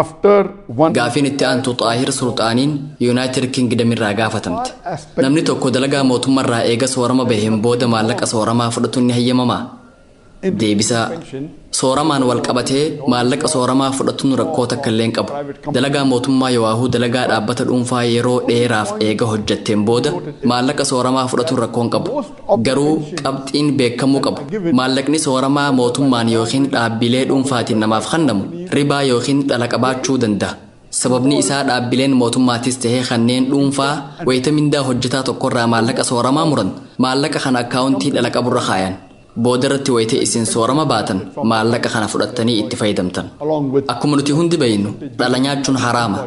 After one Gaafiin itti aantu Xaahir Sulxaaniin Yuunaayitid Kingdom irraa gaafatamte. Namni tokko dalagaa mootummarraa eega soorama baheen booda maallaqa sooramaa fudhatuun ni hayyamamaa? Deebisaa, Sooramaan wal qabatee maallaqa sooramaa fudhatuun rakkoo takka illee hin qabu. Dalagaa mootummaa yowaahuu dalagaa dhaabbata dhuunfaa yeroo dheeraaf eega hojjatteen booda maallaqa sooramaa fudhatuun rakkoo hin qabu. Garuu qabxiin beekamuu qabu, maallaqni sooramaa mootummaan ykn dhaabbilee dhuunfaatiin namaaf kannamu ribaa ykn dhala qabaachuu danda'a. Sababni isaa dhaabbileen mootummaatis ta'ee kanneen dhuunfaa wayita mindaa hojjetaa tokkorraa maallaqa sooramaa muran maallaqa kana akkaawuntii dhala qaburra kaayan. Boodarratti wayita isin soorama baatan maallaqa kana fudhattanii itti fayyadamtan. Akkuma nuti hundi beeknu dhala nyaachuun haraama.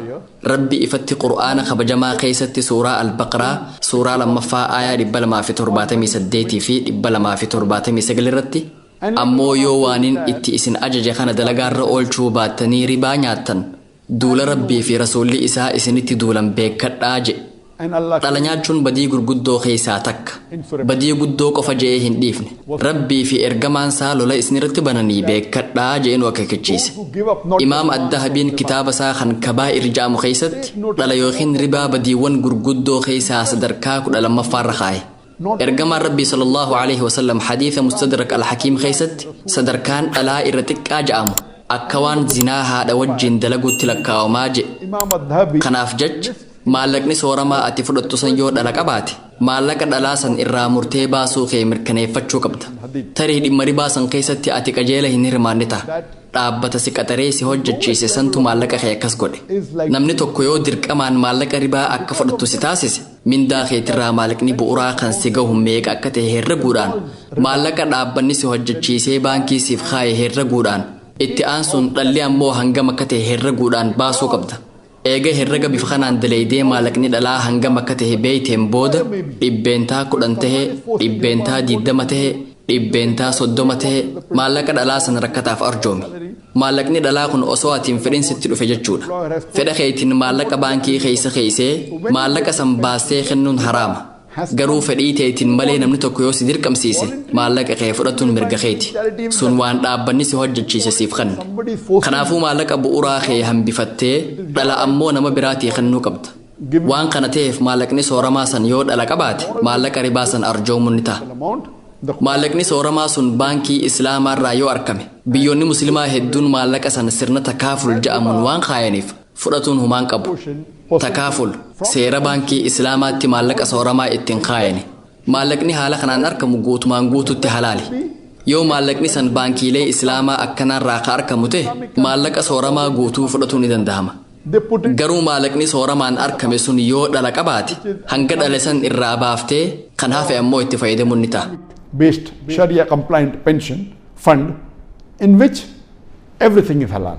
Rabbi ifatti Qur'aana kabajamaa keessatti suuraa Al-Baqraa suuraa 2ffaa aayaa 278 fi 279 irratti Ammoo yoo waanin itti isin ajaje kana dalagaarra oolchuu baattanii ribaa nyaattan duula Rabbii fi Rasuulli isaa isinitti duulan beekkadhaa jedhe. Dhala nyaachuun badii gurguddoo keessaa takka. Badii guddoo qofa je'ee hin dhiifne. Rabbii fi Ergamaan saa lola isinirratti bananii beekkadhaa je'ee nu akeekkachiise. Imaam Ad-Dahabiin kitaaba isaa kan Kabaa'ir ja'amu keessatti dhala ykn ribaa badiiwwan gurguddoo keessaa sadarkaa kudha lammaffaarra kaaye. Ergamaan Rabbii sallallaahu aleyhi wa sallam hadiisa mustadrak al-hakiim keessatti sadarkaan dhalaa irra xiqqaa ja'amu akka waan zinaa haadha wajjiin dalaguutti lakkaawamaa je'e. Kanaaf jacha maallaqni sooramaa ati fudhattu san yoo dhala qabaate maallaqa dhalaa san irraa murtee baasuu kee mirkaneeffachuu qabda. Tarii dhimma ribaa san keessatti ati qajeela hin hirmaanne taha. Dhaabbata si qaxaree si hojjachiise santu maallaqa kee akkas godhe. Namni tokko yoo dirqamaan maallaqa ribaa akka fudhattu si taasise, Mindaa keetirraa maallaqni bu'uraa kan si gahu meeqa akka ta'e herreguudhaan maallaqa dhaabbanni si hojjechiisee baankii siif kaaye herreguudhaan itti aansuun dhalli ammoo hangam akka ta'e herreguudhaan baasuu qabda. Eega herrega bifa kanaan daleeydee maallaqni dhalaa hangam akka ta'e beeyteen booda dhibbeentaa kudhan ta'e, dhibbeentaa diiddama ta'e, dhibbeentaa soddoma ta'e maallaqa dhalaa sana rakkataaf arjoomi. Maallaqni dhalaa kun osoo ati hin fedhin sitti dhufe jechuudha. Fedha keetiin maallaqa baankii keessa keessee maallaqa san baastee kennuun haraama. Garuu fedhii teetiin malee namni tokko yoo si dirqamsiise maallaqa kee fudhatuun mirga keeti. Sun waan dhaabbanni si hojjechiise siif kenne. Kanaafuu maallaqa bu'uuraa kee hambifattee dhala ammoo nama biraatii kennuu qabda. Waan kana ta'eef maallaqni sooramaa san yoo dhala qabaate maallaqa ribaa san arjoomuun ni ta'a. Maallaqni sooramaa sun baankii Islaamaa irraa yoo argame biyyoonni Muslimaa hedduun maallaqa san sirna takaaful ja'amuun waan kaayaniif fudhatuun humaan qabu. Takaaful seera baankii Islaamaatti maallaqa sooramaa ittiin kaayani. Maallaqni haala kanaan arkamu guutumaan guututti halaali. Yoo maallaqni san baankiilee Islaamaa akkanaarraa ka arkamu ta'e maallaqa sooramaa guutuu fudhatuu ni dandahama. Garuu maallaqni sooramaan arkame sun yoo dhala qabaate hanga dhale san irraa baaftee kan hafe ammoo itti fayyadamuun ni ta'a. based Sharia compliant pension fund in which everything is halal.